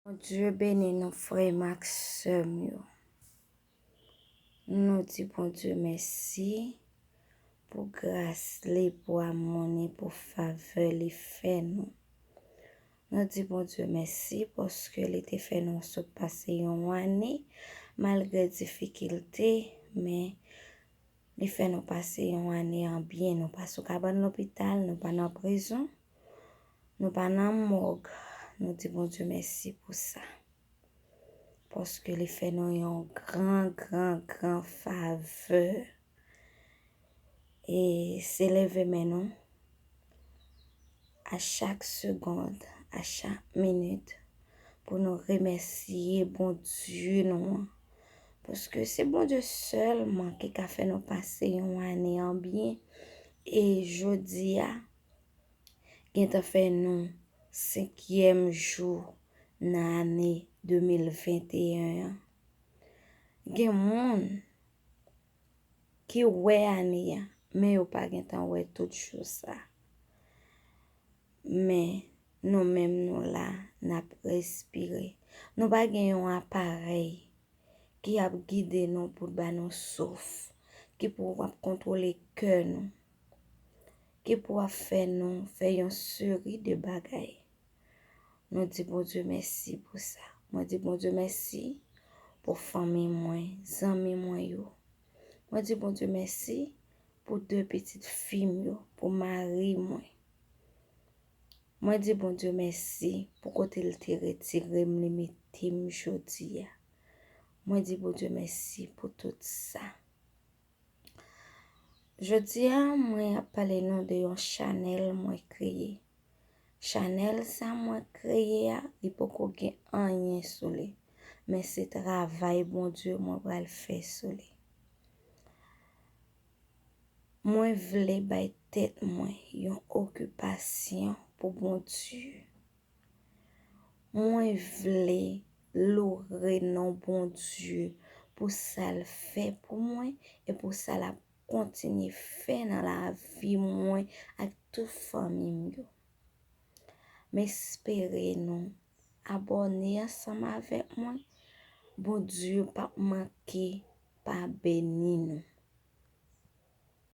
Bondye beni nou frè m ak sè m yo. Nou di Bondye mèsi pou gras li, pou amou ni, pou favè li fè nou. Nou di Bondye mèsi paske li te fè nou sot pase yon ane malgre difikilte men li fè nou pase yon ane an byen nou pa sou kabann lopital, nou pa nan prizon. Nou pa nan mòg, nou di Bondye mèsi pou sa. Paske li fè nou yon gran, gran, gran favè. E se leve men nou, a chak segond, a chak minit, pou nou remèsiye Bondye nou an. Paske se Bondye sèlman ki ka fè nou pase yon ane an byen. E jodi a, gentan fè nou senkyèm jou nan ane 2021 an. Gen moun ki wè ane a, men yo pa gentan wè tout jou sa. Men nou menm nou la, n ap respire. Nou pa gen yon aparèy ki ap gide nou pou ba nou souf, ki pou ap kontwole kè nou. ki pou ap fè nou fè yon seri de bagay. Nou di Bondye mèsi pou sa. Mwen di Bondye mèsi pou fanmi mwen, zanmi mwen yo. Mwen di Bondye mèsi pou de pitit fi m yo, pou mari mwen. Mwen di Bondye mèsi pou kote l te retire m li mete m jodi a. Mwen di Bondye mèsi pou tout sa. Jodi a mwen ap pale nou de yon chanèl mwen kreye. Chanèl sa mwen kreye a, li poko gen anyen sou li. Men se travay Bondye mwen pral fè sou li. Mwen vle bay tèt mwen yon okipasyon pou Bondye. Mwen vle loure non Bondye pou sa l fè pou mwen e pou sa l ap kontinye fè nan lavi mwen ak tout fanmi m yo. M espere nou abòne ansanm avèk mwen, Bondye pap manke pa beni nou.